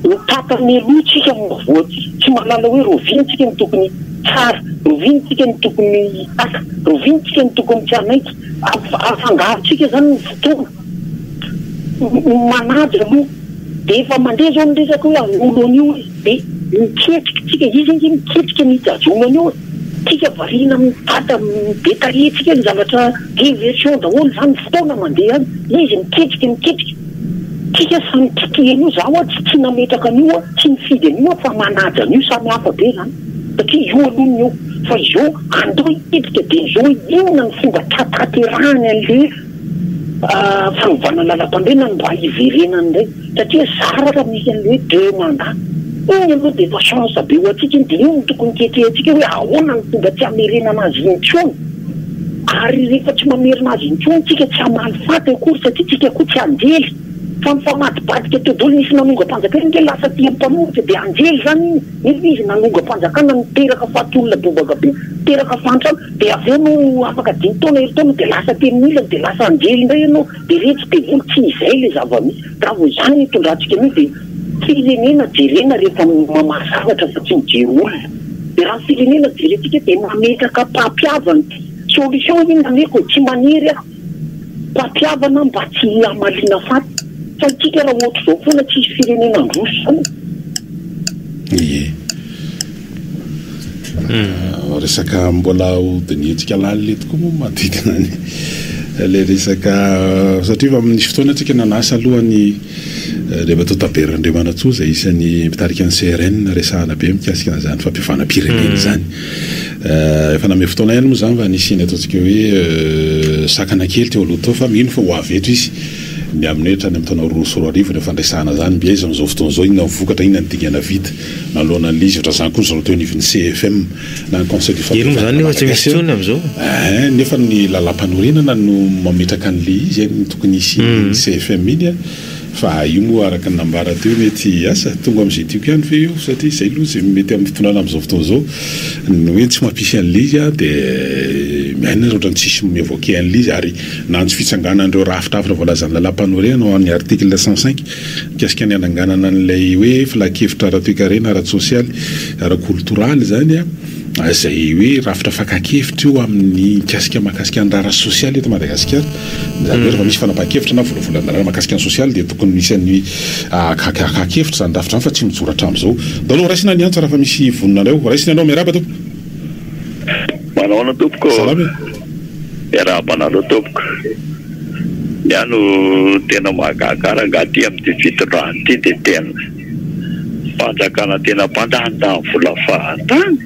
Ny tapany aloha tsika no voaty, tsy manana hoe roviny tsika no tokony hitsara, roviny tsika no tokony hipaka, roviny tsika no tokony tsy hanaiky, afangaro tsika zany ny fotoana, ny manaja aloha de efa mandeha zao ny resaka hoe an'olo an'io hoe de miketriky tsika, izy ange miketrika ny hijajona an'io e, tsika variana amin'ny dada be tarehy tsika ny zavatra diversion daholo zany, fotoana mandeha any, izy miketrika miketrika. Tsika samy tsy tia an'io, za oa tsy nametraka an'io a, tsy nifidy an'io a, fa manaja an'io, samy hafa be zany, satria io aloha ny eo, fa izao andao hipipika de izao hoe inona ny fomba hahatanterahany anle fanovana lalam-pandriana no mba hiverenany indray, satria zara raha misy anle hoe deux mandats, iny aloha de efa chance be ho antsika iny, de iny no tokony ketrehintsika hoe ahoana ny fomba tsy hamerenana azy intsony. Ary rehefa tsy mamerina azy intsony tsika tsy hamaly faty akory satria tsika koa tsy anjely fa mifamadibadika todoly nisy nanongam-panjakana nge lasa tia mpanohitra dia anjely izany iny nefa izy nanongam-panjakana niteraka faty olona bobaka be niteraka fahantrana dia avy eo no afaka dimy taona herintaona dia lasa telo milina dia lasa anjely indray ianao dia retsy devoly tsy izay ilay zava-misy raha vao izany no hitondrantsika an'io dia Firenena jerena rehefa mamaha zavatra fa tsy mijery olona. Dia raha ny firenena jerentsika dia mametraka mpampihavana. Solution anie ny ameko e, tsy manery aho. Mpampihavana mba tsy hihamaliana faty. Fa antsika raha ohatr'izao foana tsisy firenena handroso izany. Ie. Resaka mbola ho dinihintsika lalina eto koa moa manodidina ny ilay resaka satria efa amin'ny fotoana antsika nanasa aloha ny Andriamatoa Tabert Andriamanantsoa izay isan'ny mpitarika ny CRN resahana be mikasika an'izany fampihavanam-pirenena izany. Efa nanome fotoana ihany moa izany fa nisy ny ataontsika hoe sakana kely teo aloha teo fa mino fa ho avy eto izy ny amin'ny hoe hatrany amin'ny taona roa sy roa arivo no fandresahana izany mby aiza amin'izao fotoana izao, inona no vokatra, inona no dingana vita. Naloana an'i Liz Razan koa izao teo anivon'ny CFM na ny Conseil du Fampijana Malagasy an, nefa ny Lalàmpanorenana no mametraka an'ilay izy an, ny tokony hisian'iny CFM iny an, fa io moa araka ny nambara teo mety asa tonga amin'izay tiako ihany ve io satria izay aloha izay mety amin'ny fitondrana amin'izao fotoana izao ny hoe tsy mampisy an'ilay izy an dia miaina raha ohatra ny tsisy mi-evoquer an'ilay izy ary na antso fitsanganan'ireo rafitrafitra voalazan'ny Lalàmpanorenana ho an'ny article cent cinq Mikasika ny hananganana an'ilay hoe filankevitra ara-toekarena, ara-tsosialy, ara-koltoraly izany izay hoe rafitra fakan-kevitra io amin'ny mikasika mahakasika ny raharaha sosialy eto Madagasikara. Izany hoe rehefa misy fanapahan-kevitra na volavolan-dalàna mahakasika ny sosialy dia tokony misy an'ny hakan-kevitra izany rafitra izany fa tsy mijoro hatramin'izao. Ntaolo ho raisina ny antso raha efa misy vonona anareo. Raisina ianao. Miarahaba tompoko. Manahoana tompoko. Salama e. Miarahaba anareo tompoko. Ny ahy no tena mahagaga rangah aty amin'ity fitondrana ity dia tena fanjakana tena mpandanindany vola fahatany.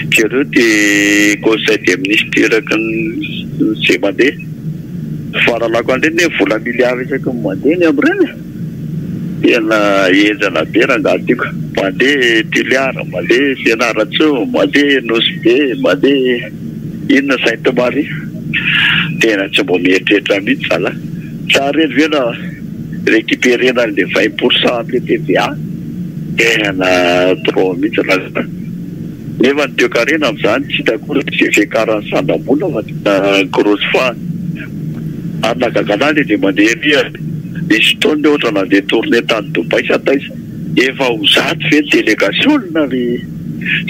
Jereo ty conseil des ministres eraky ny izay mandeha. Ny fahalalako an'ireny anie vola milliards isaky ny mandeha ny amin'ireny e. Tena henjana be rangah tiako. Mandeha Toliara, mandeha Fianarantsoa, mandeha Nosy Be, mandeha. Inona Sainte Marie? Tena tsy mbo mieritreritra mihitsy zalah. Sa reny ve na recuperena anle vingt pour cent anle TVA? Tena trop mihitsy raha zany. Nefa ny toekarena amzany tsy hita akory ny fiakaran'ny sandam-bola fa tena grosse fois. Ary nahagaga anah le dia mandeha ery ary nisy fotoana le ohatra nandeha tournée tany Dubaï sa taiza. Efa ho zato ve ny delegasionina ry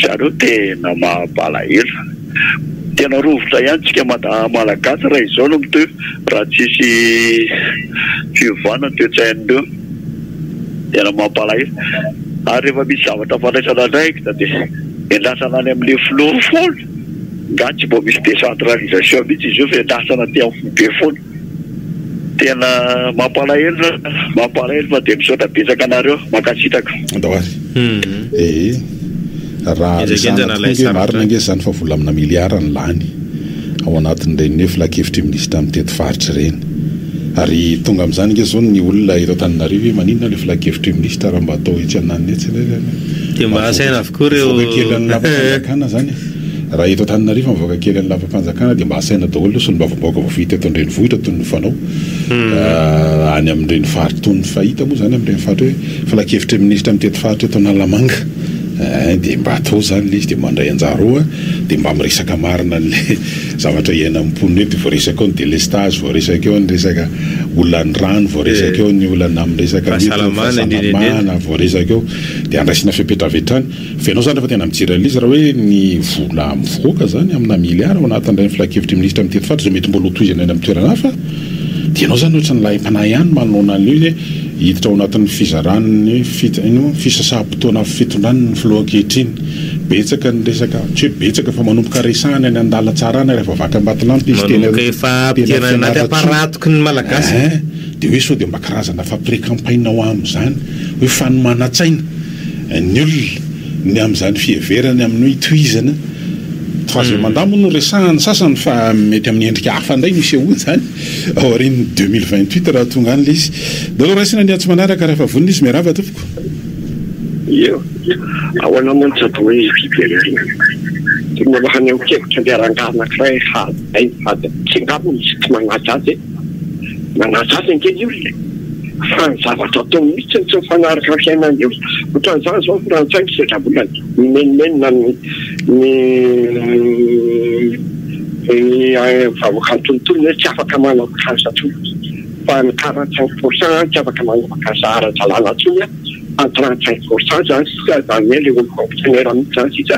zareo tena mampalahelo. Tena rovitra ihany tsika malagasy raha izao no mitohy raha tsisy fiovana ny toetsain'ireo. Tena mampalahelo. Ary rehefa misy zavatra fandraisana andraikitra de endrasana any amle filoha foana. Nga tsy mba misy decentralisation mitsy izy io fa endrasana aty am foibe foana. Tena mampalahelo mampalahelo fa dia misaotra betsaka anareo mankasitraka. Andao ary. Ee. Raha resahana tokoa ange marina ange izany fa vola amina milliard no lany ao anatin'ireny hoe filankevitry ny minisitra mitety faritra ireny. Ary tonga amin'izany ange izao ny olona eto Antananarivo hoe maninona ilay filankevitry ny minisitra raha mba atao etsy ananona etsy ilay. Dia mba asaina avokoa ireo. Voaka kelin'ny lapantsam-panjakana izany e. Raha eto Antananarivo mivoaka kely ny lapam-panjakana dia mba asaina daholo ny solombavambahoaka voafidy teto an-drenivohitra toy ny fanao any amin'ireny faritra toy ny fahita moa izany amin'ireny faritra hoe filankevitry ny minisitra mitety faritra eto Analamanga eh, dia mba atao izany ilay izy dia mandray anjara ao an, dia mba miresaka marina an'ilay zavatra iainan'ny mponina eo dia voaresaka ao ny delestage, voaresaka eo ny resaka olan'ny rano, voaresaka eo ny olana amin'ny resaka fahasalamana, voaresaka eo dia andraisana fepetra avy hatrany. Fa ianao zany rehefa tena mijery an'ilay izy raha hoe ny vola mivoaka zany amina milliard ao anatin'ilay ny filankevitry ministra mitety faritra izay mety mbola ho tohizana eny amin'ny toerana hafa dia ianao zany ohatran'ny lahim-panahy ihany manoloana an'ilay izy hoe hiditra ao anatin'ny fizaran'ny fit- ino fisasaham-potoana fitondran' ny filoha ankehitriny. Betsaka ny resaka, tsy hoe betsaka fa manomboka resahana eny an-dalan-tsarana rehefa vaky am-batolampy izy teny Manomboka efa teny ampidirana anaty Fianarantsoa. am-paratoky ny Malagasy. Ein! Dia hoe sao dia mba karazana fa pré-campagne ho amin'izany, hoe fanomanan-tsaina. ny olona ny amin'izany fiheverany amin'ny hoe itohizana troisième mandat moa no resahan'ny sasany fa mety amin'ny endrika hafa indray no hisehoany izany aorian'ny deux mille vingt huit raha tonga any ilay izy. Dia aleo raisina ny antso manaraka raha efa vonona izy. Miarahaba tompoko. Eo, ahoana moa ny tsy atao hoe fiverenana? Tokony alohan'ny ankiebotra ampiharahana angaha anankiray hady aina hady aty angamba misy tsy manaja azy e! Manazava ange ny olona e! Fa ny zavatra ataony mihitsy no tsy mifanaraka amin'ny fiainany eo. Otran'izany izao ny frantsay misedra vola ny mimenomenona ny ny vahoakan'ny tontolo hoe tsy afaka manao vacances intsony fa ny quarante cinq pour cent tsy afaka manao vacances ara-dalàna intsony an! Fa ny trente cinq pour cent izany sisa izany hoe ilay olo fonctionnaire mihitsy izany sisa.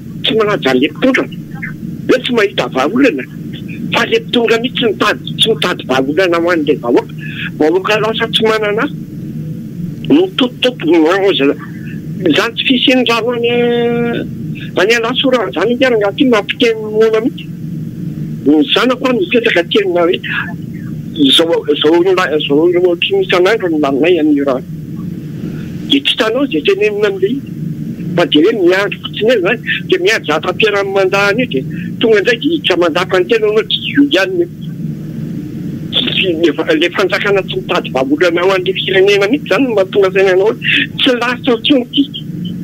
Tsy manaja le mpitondra hoe tsy mahita vahaolana fa le mpitondra mihitsy tsy mitady tsy mitady vahaolana ho an'le vahoaka. Vahoaka lasa tsy manana asa no mitotototo izany tsy fisian'ny rano any any Alasora zany nge rangaha ty mampiteny moana mihitsy. Ny zanako any mipetraka aty aminay hoe zao zao zao ohatriny isan'andro no laninay an'io rano. Dia tsy hitanao izay tenenina amin'ilay izy fa jereo miandry fotsiny eo izany dia miandry za Rapiera amin'ny mandat anio dia tonga indray dia hiditra mandat fa ny tenany moa tsy io ihany io. Tsy ilay fanjakana tsy mitady vahaolana ho an'ilay firenena mihintsy izany no mahatonga saina anao hoe tsy lasa intsony ity,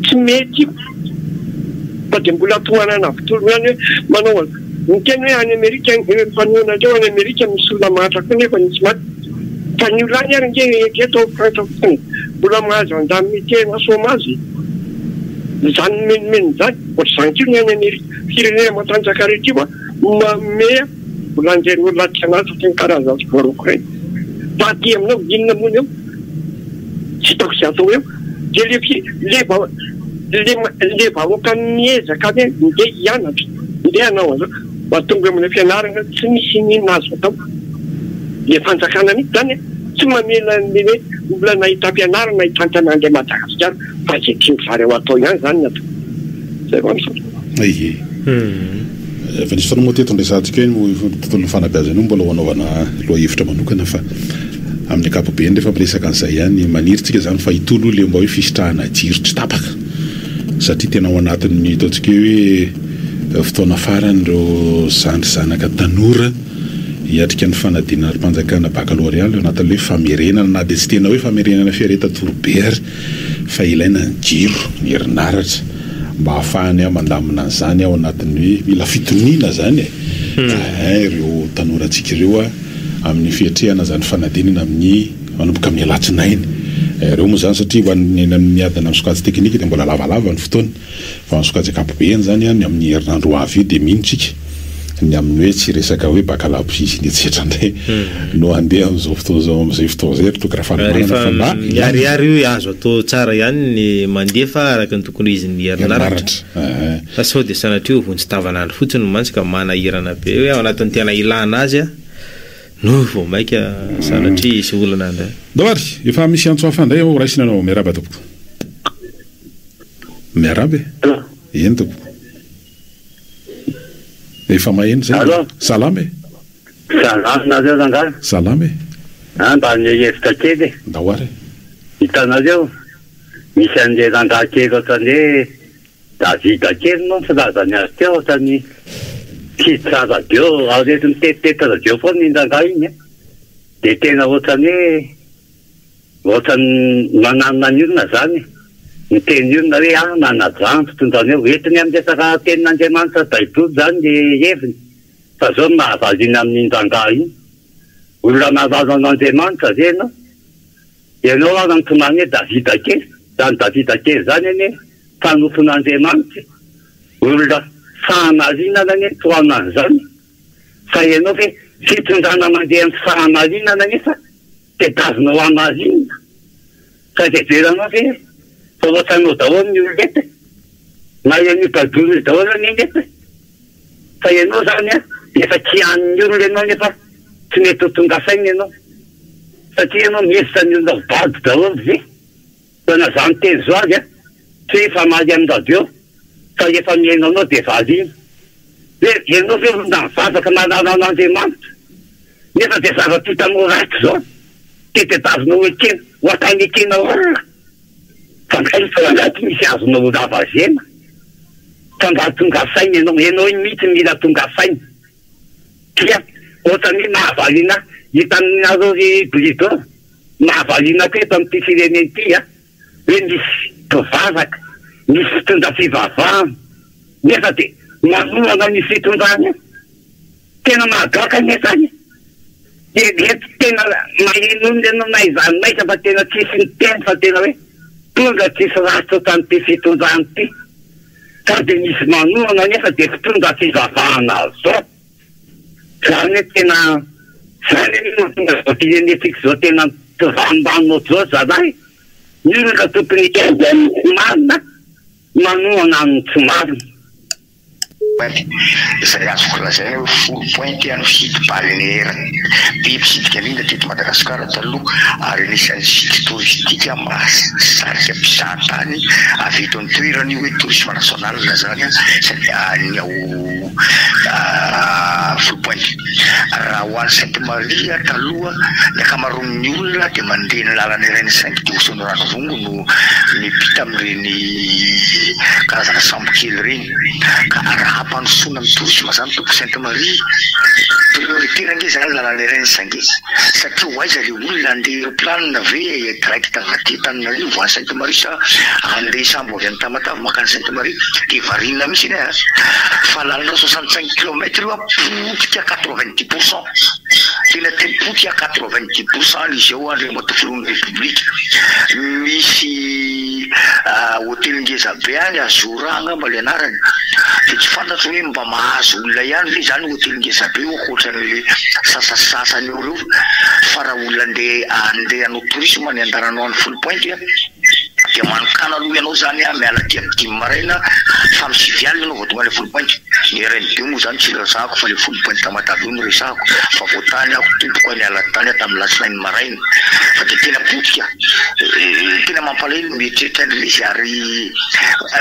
tsy mety io fa dia mbola tohanana avy tolona ihany hoe manao an'izao, niteny hoe any Amerika ireo mifanohana ireo any Amerika misy olona mahantra koa nefa nisy maty. Fa ny olay ary nge eto eto ao Frantsa fotsiny mbola mahazo indemnité na chômage izany nomenomenony izany, ohatr'izany koa ny any Amerika, firenena matanjaka rehetra io an, manome vola an'ireny olona mpianatra sy ny karazany tsy voaroako ireny. Fa aty aminao inona moa ny eo? Tsy hitako izay atao eo. Dia le fi, le vao, le, le vahoaka miezaka ve ndeha hianatra, ndeha hanao an'izao? Mba tonga amina fianarana tsy misy inona azo atao le fanjakana mitsy zany a! Tsy mamela anle hoe olana hitampianarana hitantana anle Madagasikara fa ze tiany zareo atao ihany zany ny atao. Zay fa misaotra. Aie. Efa nisy foana moa teto ny resahantsika hoe ny tontolon'ny fanabeazana io mbola ho anaovana lohahevitra manokana fa amin'ny ankapobeny rehefa miresaka an'izay ihany maniry tsika izany fa hitolo le mba hoe fisitrahana jiro tsy tapaka satria tena ao anatin'ny ataontsika hoe Fotoana farany ireo zandry zanaka tanora hiatrika ny fanadinana ara-panjakana baccalauréat ilay anatin'ilay hoe famerenana na dia tsy tena hoe famerenana fiaretan-toro be ary fa ilaina ny jiro, ny herinaratra mba hahafahany mandamina an'izany ao anatin'ny hoe mila fitoniana izany e! Ehe ireo tanorantsika ireo amin'ny fiatrehana izany fanadinana amin'ny manomboka amin'ny alatsinainy ireo moa izany satria ho an'ny eny amin'ny adina amin'ny sokajy teknika dia mbola lavalava ny fotoana. Vao nisokajy ankapobeny izany ny amin'ny herinandro ho avy io dia mino tsika ny amin'ny hoe tsy resaka hoe bakalabosia sy ny etsetra indray no handeha amin'izao fotoana izao amin'izay fotoana izay ry Toky Rafalimanana fa mba miharihary hoe azo atao tsara ihany ny mandefa araka ny tokony ho izin'ny herinaratra fa sao dia sanatria ho vonjy tavan'andro fotsiny mantsy ka manahirana be hoe ao anatin'ny tena ilana azy no vao maika sanatria hisy olana indray. Ndao ary, efa misy antso hafa indray ao, raisina anao, miarahaba tompoko. Miarahaba e! Eny tompoko. Efa maheno zay. Allo. Salama e! Salama, nareo rangahy? Salama e! An, mba hanome hevitra kely e! Ndao ary e! Hitanareo, misy an'le rangahy kely ohatran'ny hoe Davida kely moa ny filazany azy teo, ohatran'ny tsy hiditra radio, ary rehefa mitety radio foana iny rangahy iny an, dia tena ohatran'ny hoe. Ohatran'ny manan maniorina izany ny teny io na hoe ahy manaja ny fitondrana eo. Entiny amin'ny resaka tenin'Andriamanitra baiboly izany ny heviny fa izao no mahavaliana amin'iny rangahy iny. Olona nalaza an'Andriamanitra ve ianao? Ianao ary ny tomany hoe Davida kely. Izany Davida kely izany anie mpanompon' Andriamanitra e! Olona fahamarinana anie ny tohanan'izany. Fa ianao ve fitondrana mandeha amin'ny fahamarinana anefa tedavina ho hamarinina? Sady heveranao ve fa ohatranao daholo ny olona eto e? Na ian'io Badolo io daholo anie ny eto e! Fa ianao izany an, efa kianin'ny olona ianao nefa tsy mety ho tonga saina ianao satria ianao mihevitra ny olona ho bado daholo ve? Dia nazah niteny zao azy a, tsy hoe efa mahay amin'ny radio fa efa mihaino anao dia valiany. Hoe ianao ve olona mivavaka manala an'Andriamanitra nefa dia zavatra hitanao ratsy zao dia tedavina ho ekena, ho ataony ekena olona. Fa nga efa ao anaty misy azonao ho ravazena? Fa nga tonga saina ianao? Ianao iny mihitsy mila tonga saina. Tsia, ohatran'ny hoe mahavariana hitanareo ry Blido Mahavariana koa eto amin'ity firenena ity hoe misy mpivavaka, misy mpitondra fivavahana nefa dia manohana ny fitondrana io. Tena mahagaga anie izany e! Dia dia tena maheno olona ianao na aiza na aiza fa tena tsisy miteny fa tena hoe mpitondra tsisy ratra ohatran'ity fitondrana ity. Sao dia misy manohana nefa dia mpitondra fivavahana zao. Za anie tena za anie no mahatonga izao firenentsika izao tena mpivarombano ohatr'izao zalahy, inona no tokony hiainga amin'ny tsy marina, manohana amin'ny tsy marina. Izay azoko lazaina hoe folo points ity an'ny fidy balnéaire be mpitsidika mina teto Madagasikara taloha ary anisan'ny site touristique mahasarika mpizahatany avy eto an-toerana io hoe tourisme national zany sady any ao folo points. Raha ho any Sainte Marie taloha ny ankamaroan'ny olona dia mandeha ny lalana iray ny Sainte Doce no Ranovongo no miampita amin'ireny karazana sambo kely ireny ka raha hampandrosoana ny tourisme izany tompoko Sainte Marie prioritaire ange izany lalana iray ny Sainte satria ho aiza ilay olona handeha aeroplane ve direct avy aty Antananarivo any Sainte Marie sa handeha sambo Avy any Tamatave mankany Sainte Marie dia variana mihitsy anie a! fa lalana soixante cinq kilomètre io a! potika quatre vingt dix pour cent tena tena potika quatre vingt dix pour cent ny izao Andriamatoa Filohan'ny Repoblika misy hotely ngeza be any Azora angamba le anarany dia tsy fantatro hoe mba mahazo olona ihany ve izany hotely ngeza be io ankoatran'le sasasasany eo reo fa raha olona andeha andeha hanao tourisme any andananao any foulpointe a! Dia manonkana aloha ianao izany aho miala aty amin'ny dimy maraina fa amin'ny sivy alina ianao vao tonga any Folopainty? Ny RNB moa izany tsy resahako fa ilay Folopainty Tamatave io no resahako fa vao tany aho tompoko a, niala tany aho tamin'ny alatsinainy maraina fa dia tena potika eh, tena mampalahelo ny mieritreritra an'ilay izy ary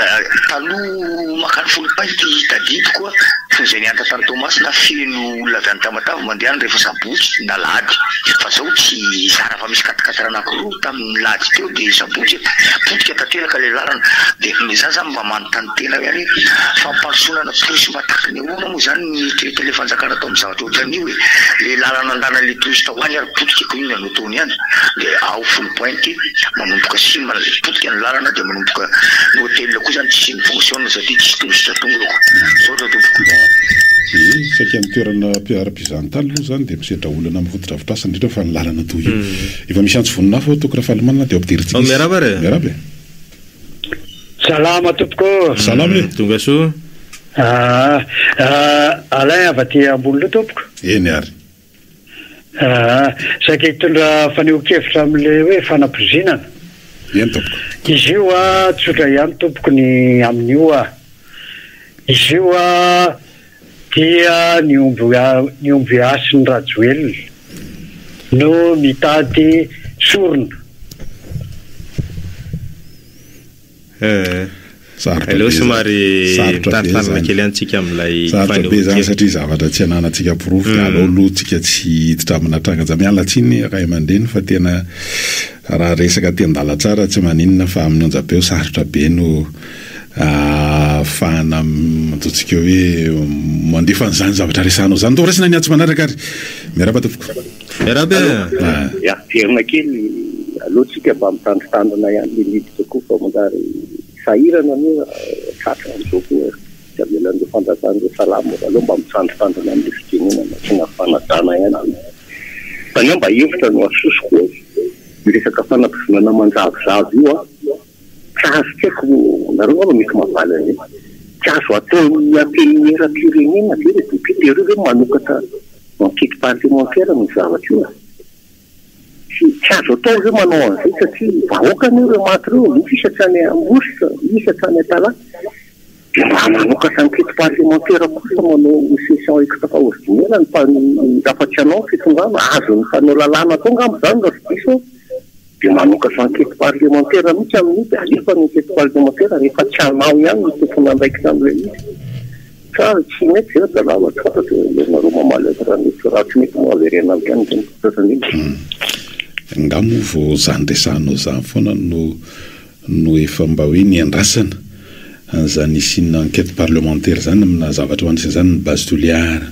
eh, taloha makany Folopainty tadidiko a, toy izay niantra tany Toamasina feno olona avy any Tamatave mandeha any rehefa sabotsy na alahady fa izao tsy zara fa misy quatriquatre anankiroa tamin'ny. Nilady teo dia sabotsy e! Potika tanteraka ilay lalana dia izaho izany mba manontany tena ihany hoe fampandrosoana ana tourisme ataky ny ahoana moa izany ny traite ilay fanjakana atao amin'ny zavatra ohatran'io e! Ilay lalana andanan'ilay touristes ho any ary potika koa inona no ataony any dia ao folo pointy manomboka sima ilay potika ny lalana dia manomboka ny hotel koa izany tsy simy fonctionne satria tsisy touristes tonga ao. Misaotra tompoko. Ee, saika ny toerana ara-pizahantany aloha izany dia misedra olana amin'ny fotodrafitrasa indrindra fa ny lalana toa io. Efa misy antso vonona hafa ao Toky Rafalimanana dia ao Ampidir'i Tilisy. Miarahaba re. Miarahaba e. Salama tompoko ô. Salama e. Tonga soa. Aa Alain avy aty Amboholoha tompoko. Eny ary. Aa saika hitondra fanehoan-kevitra amin'ilay hoe fanapozinana. Eny tompoko. Izy io a tsotra ihany tompoko ny amin'io a. Izy io a. dia ny omby ny omby hasin'i Rajoelina no mitady sorona. Sarotra be zany. Sarotra be zany. Sarotra be zany satria zavatra tsy ananantsika porofo dia aleo aloha tsika tsy hiditra amina tranga-ja. Miala tsiny ray aman-dreny fa tena raha resaka aty an-dalantsara tsy maninona fa amin'ny onjam-peo sarotra be no Ahafahana ataontsika hoe mandefa an'izany zavatra resahanao izany. Atao raisina ny atsy manaraka ary. Miarahaba tompoko. Miarahaba e. Ah. Averina kely aleo tsika mba mitandritandrina ihany le miditra koa fa manjary sahirana moa tratra amzao koa tsy avelan'ireo fanjakana ireo salamo aleo mba mitandritandrina amle fitenenana sy na fanajana ihany aloha fa ny ahy mba hevitra no asosoko le resaka fanabozonana manjavozavo io an. Tsy azo tsy aiko nareo nga no mety mavaly an'io. Tsy azo ataon'ny antenimieram-pirenena ve le député ireo ve manokatra enquête parlementaire amin'io zavatra io e? Tsy tsy azo atao ve manao an'izay satria vahoaka anie ireo maty ireo misy isa hatrany Ambositra, misy hatrany Antalaha. De mba manokatra enquête parlementaire kosa manao ny session extra ordinaire ny rafa tsy anao ny fitondrana azon'ny mpanao lalàna atao ngamba izany raha tsy diso aho. Dia manokatra ankety parlemantera mihitsy amin'io dia alefa ny ankety parlemantera rehefa tsy anao ihany no tompon'andraikitra amin'ilay izy. Sa tsy mety ve ry zalahy fa ohatra dia ianareo mamaly azy raha mety, raha tsy mety moa avereno avy any izany. Zatra indrindra. Hum. Angaha moa vao izany resahanao izany foana no no efa mba hoe niandrasana an'izany hisian'ny enquête parlementaire izany amina zavatra hoe anisan'izany ny base Toliara,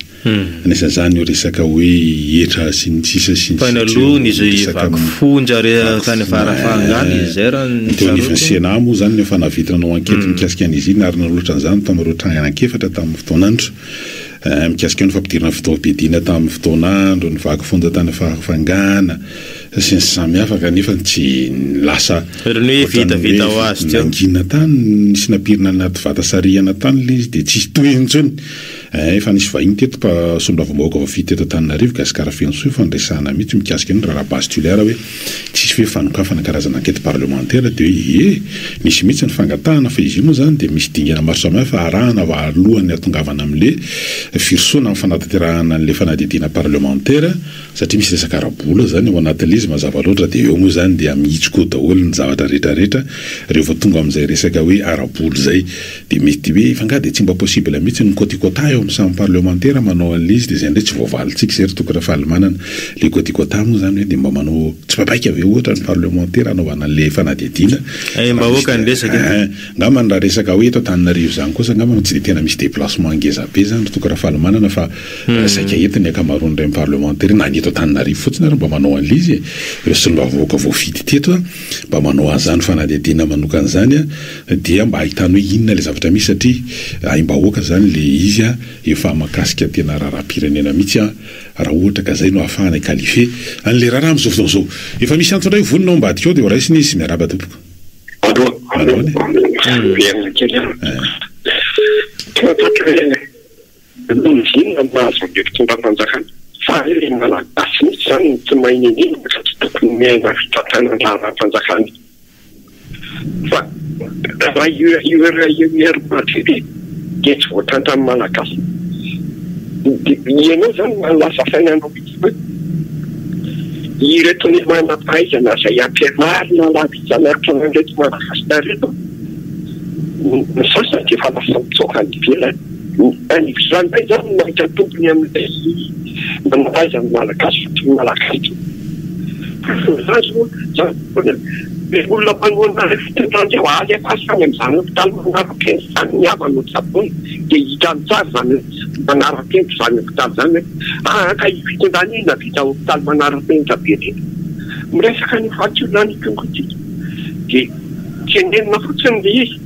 anisan'izany io resaka hoe hetra sy ny sisa sy ny sisa io resaka ny teo anivon'ny Sénat moa izany no efa nahavita nanao enquête mikasika an'izy iny ary nanolotra an'izany tamin'ireo trangana an-kefatra tamin'ny fotoana andro mikasika ny fampidirana fitaovam-piadiana tamin'ny fotoana andro, ny vaky fonja tany Farafangana, Tsy nisy samihafa kanefa ny tsy lasa ohatran'ny hoe nangina tany ny sinapirina anaty vata sarihana tany ilay izy dia tsisy tohiny intsony. Ee, efa nisy vahiny teto mpa solombavambahoaka voafidy teto Antananarivo, Gasikara feno soa, efa niresahana mihitsy mikasika an'io ny raharaha base tulaire hoe tsisy hoe fanokafana karazana enquête parlementaire dia hoe ee, nisy mihitsy ny fangatahana fa izy io moa izany dia misy dingana maro samihafa arahana alohan'ny hatongavana amin'ilay firosoana amin'ny fanatanterahana an'ilay fanadihadiana parlementaire satria misy resaka ara-bola zany ao anatin'ilay izy mazava loatra dia eo moa izany dia mihitsoka eo daholo ny zavatra retraretra reo vao tonga amin'izay resaka hoe ara-bola izay dia mety hoe fa nga dia tsy mba possible mihitsy ny côte quota eo amin'ny samy parlemantera manao an'ilay izy dia izay indray tsy voavalintsika izay ry toky Rafalimanana ilay côte quota moa izany hoe dia mba manao tsipaipaika ve ohatra ny parlemantera hanaovana an'ilay fanadihadiana eh mba hoaka ny resaka eh angambany raha resaka hoe eto Antananarivo izany kosa angambany tsy dia tena misy déplacement ngezabe izany ry toky Rafalimanana fa Saika eto ny ankamaroan'ireny parlemantera eny na ny eto Antananarivo fotsiny ary mba manao an'ilay izy e! Ireo solombavambahoaka voafidy teto mba manao an'izany fanadihadiana manokana izany dia mba ahitany hoe inona ilay zavatra misy satria aim-bahoaka izany ilay izy efa mahakasika tena raharaham-pirenena mihitsy raha ohatra ka izay no ahafahana hi-qualifier an'ilay raharaha amin'izao fotoana izao. Efa misy antso indray ho vonona ao ambadika ao dia ho raisina izy. Miarahaba tompoko. Aloha. Miverina kely aho. Toa tokony hoe. Mitovy inona no maha zandry fitondram-panjakana? Sa ve ilay Malagasy mihitsy izany no tsy mahay nenenina ka tsy tokony miaina fitantana ny raharaham-panjakana? Fa raha io URUR maty ve dia tsy voatantran'ny Malagasy? Dia ianao izany no lasa sainanao mihitsy ve? Ireto ny manam-pahaizana izay ampianarina lava isan'andro an'ireto Madagascar ireto, ny sasany dia efa lasa mitsoaka any ivelany. Za ndray zany no mahita tombony amin'ilay manalaiza ny Malagasy fa tsy ny Malagasy itsony le olona manohana le fitondran'zay oa aza efa aza any amzany hopitaly manarapenitra zany ny havany no tsaboina de hitany tsara zany oe manarapenitra zany hopitaly zany oe aa ka io fitondrana io nahavita hopitaly manarapenitra be reny miresaka an'io fahatsorana an'io kongo ity de tenenina fotsiny le izy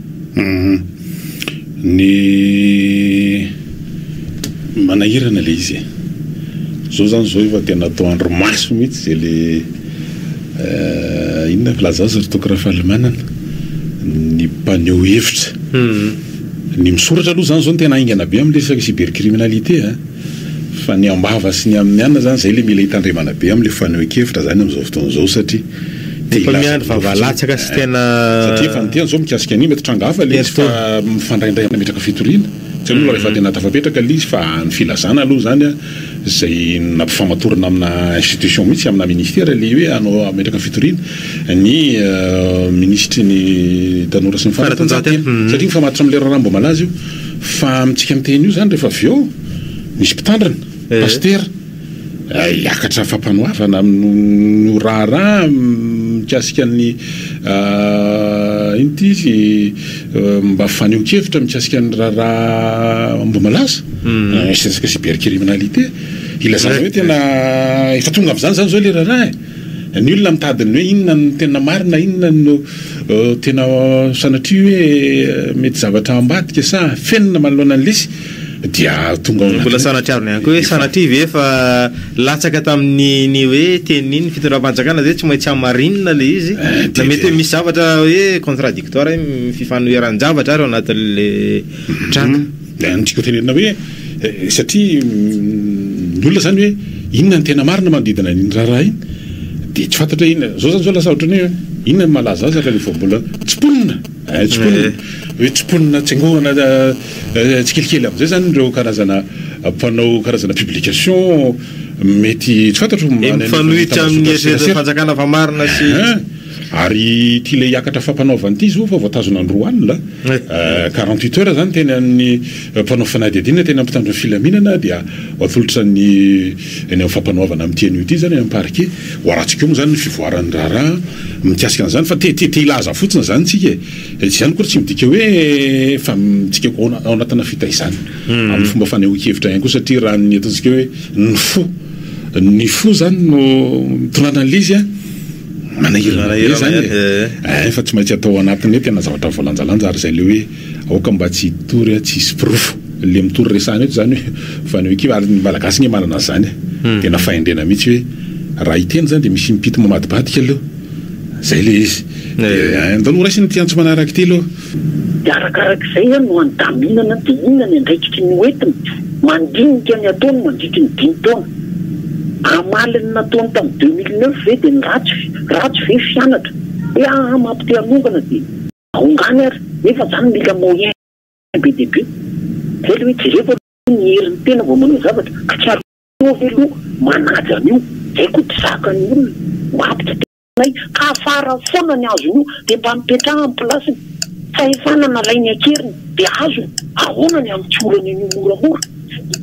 Ny manahirana le izy e. Zao zany zao efa tena atao andro maso mihitsy izay le inona filaza azy ry toky Rafalimanana? ny mpaneho hevitra. Ny misoratra aloha zany zao no tena haingana be amin'ny resaka cybercriminalité a! Fa ny ambava sy ny amin'ny anona zany zay le mila hitandremana be amin'ny fanehoan-kevitra zany amin'izao fotoana izao satria. Efa miandry vava latsaka sy tena. Satria efa niteny zao mikasika an'io mety tranga hafa le izy fa mifandraindray nametraka fitoriana tsy hainao raha efa tena tafapetraka le izy fa ny filazana aloha zany a zay nampifamatorana amina institution mihitsy amina ministera le hoe hanao hametraka ny fitoriana ny minisitry ny tanora sy ny fanatanjahantena satria mifamatotry amle raharaha mbola malaza io fa amintsika miteny io zany rehefa avy eo misy mpitandrina, pasitera. Hiakatra fampanoavana amin'io raharaha mikasika ny inona izy? mba fanehoan-kevitra mikasika ny raharaha Ambohimalaza, resaka cybercriminalité. Ilazana hoe tena efa tonga amin'izany izany izao ilay raharaha e! Ny olona mitady ny hoe inona no tena marina, inona no tena sanatria hoe mety zavatra ambadika sa afenina manoloana ny lesy dia tonga ao anatin'ny. Mbola sanatria arona ihany koa hoe sanatria ve efa latsaka tamin'ny ny hoe tenin'ny ny fitondram-panjakana ve tsy maintsy hamarinina ilay izy na mety hoe misy zavatra hoe contradictoire mifanoheran-javatra ary ao anatin'ilay tranga. Ilay amin'ny tiako tenenina hoe satria ny olona izany hoe inona no tena marina manodidina an'iny raharaha iny dia tsy fantatra hoe inona. Izao izany izao lasa ohatran'ny hoe inona no mahalaza azy raha vao mbola tsy mponina eh, tsy mponina, hoe tsy mponina tsengohana tsikelikely amin'izay izany ireo karazana mpanao karazana publication mety tsy fantatro. Dia mifanohitra amin'ny eritreretan'ny fanjakana fa marina sy. Ary ity ilay hiakatra fampanaovana ity izy io fa voatazona androy alina, quarante huit heures izany teny amin'ny mpanao fanadihadiana teny amin'ny mpitandro ny filaminana dia ho atolotra ny eny amin'ny fampanoavana amin'ity anio ity izany any amin'ny parquet. Ho arantsika eo moa izany ny fivoaran'ny raharaha mikasika an'izany fa te te hilaza fotsiny izany isika e. Fa izany akory tsy midika hoe efa midika ho ao anatina fitaizana amin'ny fomba fanehoan-kevitra ihany koa satria raha ny ataontsika hoe ny fo ny fo izany no mitondra an'ilay izy an! manahirana zany e. Eh, efa tsy maintsy atao anatin'ny hoe tena zavatra voalanjalanja ary izay le hoe aoka mba tsy hitory a, tsy hisy porofo le mitory resahana eto zany hoe fa ny hoe kivy ary ny malagasy anie manana an'zany e. Hmm. Tena fahendrena mihitsy hoe raha hiteny zany de misy impito mamadibadika aloha. Zay le izy. Eh. Eh, ndao noraisina ity antso manaraka ity aloha. Dia arakaraka izay izany no handaminana dia inona ny andraikitry ny hoentiny. Mandinika ny ataony mandritry ny dimy taona. Hamaly ny nataony tamin'ny deux mille neuf ve dia ny ratsy ve? Ratsy ve fianatra? Hoe aa map te hanongana dia. Aongany ary nefa izany mila moyen be dia be. Izay ilay hoe jereko aloha ny herin'ny tena vao manao zavatra. Ka tsy ary ho eo ve aloha manaja an'io. Izay koa tsy zakan'ny olona. Map tsy te. Ilay afara foana ny azony io dia mba mipetraha ny plasiny, fahefana nalainy an-keriny dia azony, ahoana ny amin'ny tiorany an'io moramora?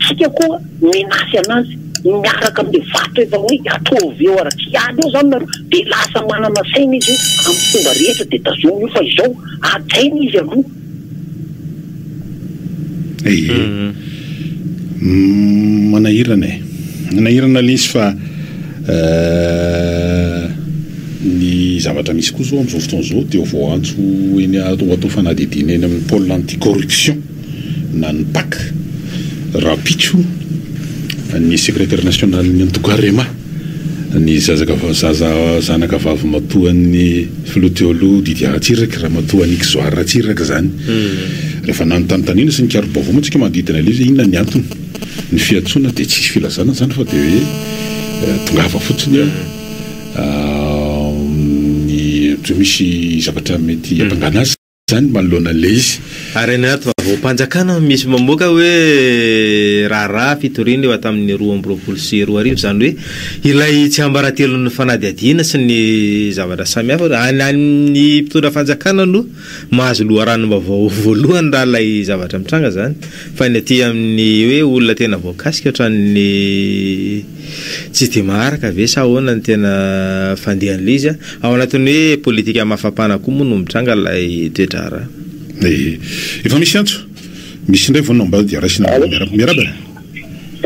Isika koa menasy anazy miaraka amin'ilay vato efa hoe ataovy eo ary tsy ady eo izany nareo dia lasa manana saina izy hoe amin'ny fomba rehetra dia tazominy io fa izao, hajaina izy aloha. Ehe. Mhm. Mm, manahirana e. Manahirana lesy fa eh, ny zavatra misy koa zao amin'izao fotoana izao dia vao antso eny a- ho atao fanadihadiana eny amin'ny pôle anti-corruption na ny pac rahampitso ny secrétaire national ny antoko Arema. ny zaza zanaka vavimatoan'ny filoha teo aloha Didier Ratsiraka, ramatoa Annick Zoary Ratsiraka izany. Rehefa nanontany tanindry sy nikaro-baovao moa isika manodidina ilay izy hoe inona ny antony, ny fiantsoana dia tsisy filazana izany fa dia hoe tongava fotsiny amin'ny, ohatra hoe misy zavatra mety hampangana azy. Zany manoloana le izy. Ary any anaty vavaham-panjakana no misy mamoaka hoe raharaha fitoriana eo hatamin'ny roa amby roapolo sy roa arivo, izany hoe ilay tsiambaratelon'ny fanadihadiana sy ny zavatra samihafa. Any amin'ny mpitondra fanjakana no mahazo loharanom-baovao voalohany raha ilay zavatra mitranga izany, fa ny aty amin'ny hoe olona tena voakasika ohatran'ny tsy dia maharaka ve sa ahoana ny tena fandehan'ilay izy. Ao anatin'ny hoe politika mafampana koa moa no mitranga ilay toe-draharaha. Eh. Efa misy antso. Misy indray vao nambara dia raisina ambony miarahaba. Miarahaba eh.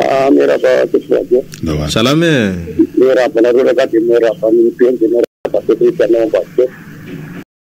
Ah, miarahaba Teto Radio. Ndao ary. Salama eh. Miarahaba anareo rangahy dia miarahaba an'i Mipeny dia miarahaba Teto Rehetra anao Ambassadeur.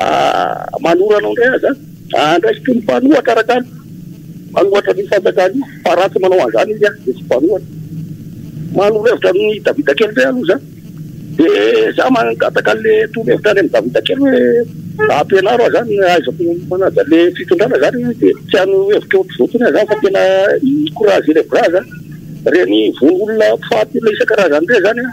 Aah manoro anao ndray aza an andraiky toy ny mpanohatra rakany mpanohatra ny fanjakana io fa raha tsy manao anzany izy an de tsy mpanohatra manoro hevitra aminy davida kely ndray aloha za de za mangataka anle torohevitra any aminy davida kely hoe ampianaro aho zany ahaizako manaja le fitondrana zany hoe de tsy hano hevitra ohatry zao tsony aho zany fa tena i courage ilay braza reny vono olona mpifaty olona isan-karazany reny zany an.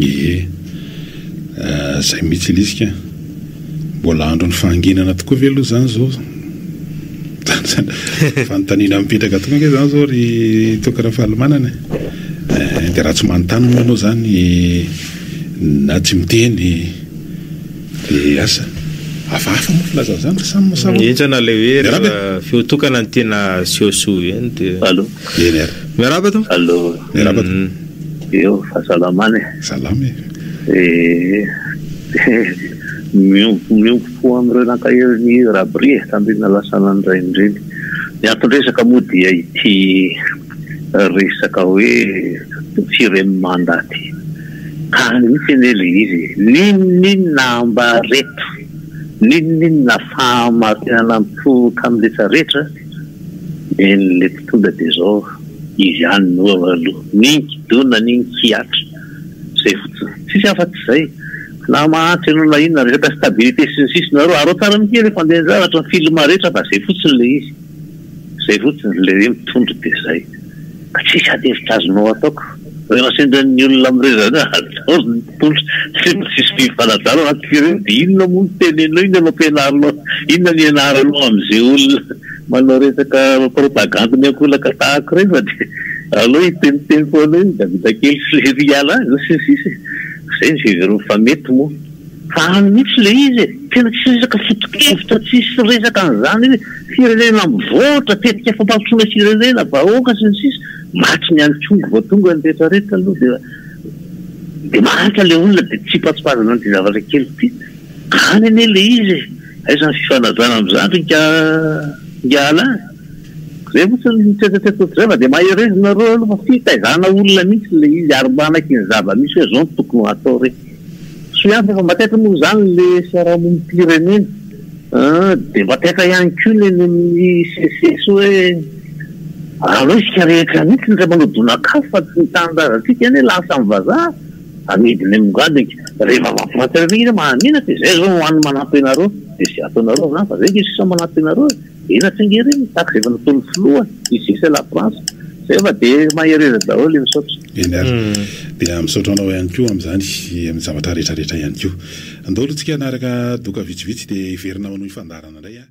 Ie. Zay mihitsy Lisika a! Mbola andron'ny fahanginana tokoa ve aloha izany izao? Fanontaniana mipetraka tokoa ange izany izao ry Toky Rafalimanana e! Eh, dia raha tsy manontany moa ianao izany na tsy miteny dia asa? Hafahafa moa filazana izany fa samy mahasahy hoe. Enjana ilay hoe rehefa feo tokana no tena aseho soa be dia. Allo. Eny ary. Miarahaba tompoko. Allo. Miarahaba tompoko. Eo fa salama any e. Salama e. Dia miompy miompy fo amin'ireo naka herin'i Rabry e, tamin'ireny nalasaina ny rainy ireny. Ny anton-dresaka moa dia ity resaka hoe firy ème mandat ity. Tany mihitsy anie ilay izy e. N'inon'inona ambareto, n'inon'inona fahamarinana mipoitra amin'ny rehetra rehetra. Eny lety tonga de zao izy ihany no eo aloha n'iny kidona n'iny kihatra zay fotsiny tsisy afa tsy zay na mahantra ianao na inona resaka stabilité sy ny sisa nareo araho tsara ny teny fandehan-javatra ny film rehetra fa zay fotsiny le izy zay fotsiny le hoe mitondra de zay. Tsisy ady hevitra azonao ataoko. Rehefa sendran'ny olona mireza hoe ataovy ny mpitondra satria mba tsisy firy fanajana anaty firenena dia inona moa no tenenao, inona no ampianarinao, inona no ianaranao amin'izay olona manao resaka propagandy miankolaka tahako ireny fa dia aleo hiteniteny foana hoe Davida kely sy Lery hiala any sy ny sisa e! Izay ny fiheverany fa mety moa. Zany mihitsy le izy e! Tena tsy resaka fotokevitra tsisy resaka an'izany hoe firenena mivoatra, tetika fampandrosoana firenena, vahoaka sy ny sisa Maty ny any Congo vao tonga ny rehetra rehetra aloha dia dia mahantra le olona dia tsipatsipazana an'ity zavatra kely ity. Any anie le izy e! Aiza ny fifanajana amin'izany ry nga nga Alain e! Zay fotsiny ny tretratretra ohatr'izay fa dia mahereza nareo aloha fa fitaizana olona mihitsy le izy ary manaiky ny zava-misy hoe zao no tokony hatao re! Tsy afaka mba taitra moa izany ilay fiarahamonim-pirenena dia mba taitra ihany koa ny eny amin'ny CCC hoe aleo isika rehetra mihitsy no iray manao donak'afo fa tsy ny tanindrazantsika anie lasa amin'ny vazaha amidiny amim-gadiny ka rehefa mampiratra ireny mahamenatra e! izay izao no hany manampy anareo dia izay ataonareo angamba izay nge sisa manampy anareo e! Eny Antsingera eny ny tax efa nataon'ny filoha ici c'est la France zay fa de mahereza daholo e misaotra. Eny ary. Dia misaotra anao ihany koa amin'izany sy amin'ny zavatra rehetra rehetra ihany koa. Andao aloha tsika hanaraka doka vitsivitsy dia hiverina manao ny fandaharana indray an.